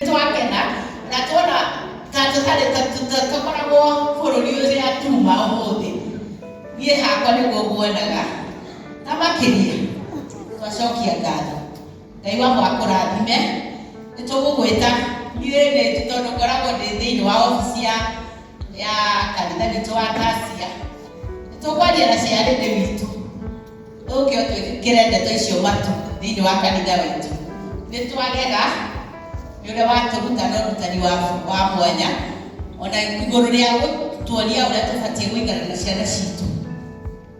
twakena na tuona ta tũtarĩ tũkoragwo bũrũri ũrĩa tuma ũmũthĩ niĩ hakwa nĩguo nguonaga na makĩria twacokia ngatho ngai wa mwaka ũrathime nĩ tũgũgwĩta niĩ nĩ tondũ ngoragwo ndĩ thĩinĩ wa obici ya ya kanitha witũ wa tasia nĩ tũkwaria na ciarĩrĩ witũ Ũngĩ twĩkĩre ndeto icio matũ thĩinĩ wa kanitha witũ. Nĩ twagega nĩ ũrĩa watũruta na ũrutani wa wa mwanya ona igũrũ rĩa gũtuonia ũrĩa tũbatiĩ gũikara na ciana citũ.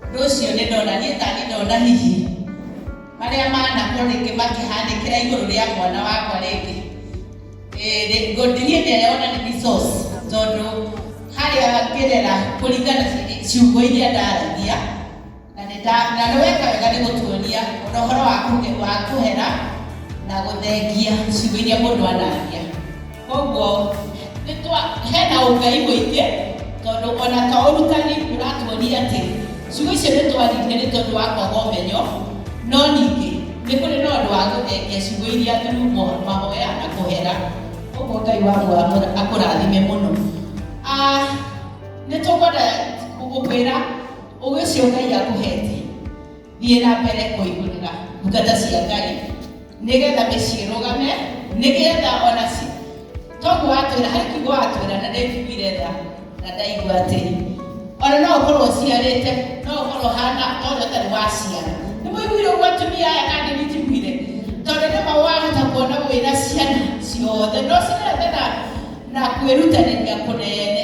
Ũndũ ũcio nĩ ndona niĩ ta nĩ ndona hihi marĩa manakorwo rĩngĩ makĩhanĩkĩra igũrũ rĩa mwana wakwa rĩngĩ ngũndirie nĩ arĩa ona nĩ resource tondũ harĩa ngerera kũringana ciugo iria ndaragia Na nĩ nda, na nĩ weka wega nĩ gũtuonia o na ũhoro wa kũge, wa kũhera na gũthengia ciugo iria mũndũ anaria. Kwoguo nĩ twa, hena ũngai mũingĩ tondũ o na to ũrutani ũratuonia atĩ ciugo icio nĩ twaririe nĩ tondũ wa kwaga ũmenyo, no ningĩ nĩ kũrĩ na ũndũ wa gũthengia ciugo iria through mo, mahoya na kũhera. Kwoguo Ngai wa mũo amũra, akũrathime mũno. Ah, nĩ tũkwenda gũkwĩra. Ũgĩ ũcio Ngai akũhetie, thiĩ na mbere kũigũrĩra ndungata cia Ngai nĩgetha mĩciĩ ĩrũgame, nĩgetha ona ci toguo watwĩra harĩ kiugo watwĩra na ndĩnjiguire tha na ndaigua atĩrĩ ona no ũkorwo ũciarĩte no ũkorwo hana no ũrĩa ũtarĩ waciara nĩ mũiguire ũguo atumia aya kana nĩ njiguire tondũ nĩ ma wahota kuona wĩna ciana ciothe no cirenda na na kwĩrutanĩria kũnene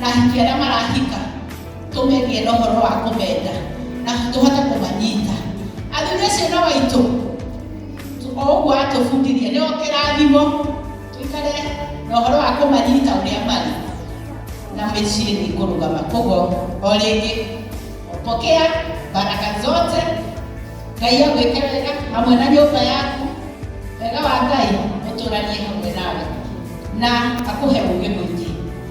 na ahiki arĩa marahika tũmegĩe na ũhoro wa kũmenda na tũhote kũmanyita athuri acio na waitũ o ũguo atũbundirie nĩ kĩrathimo tũikare na ũhoro wa kũmanyita ũrĩa marĩ na mĩciĩ nĩ kũrũgama koguo o rĩngĩ pokea baraka zote ngai agwĩke wega hamwe na nyũmba yaku wega wa ngai ũtũranie hamwe nawe na akũhe ũgĩ mũingĩ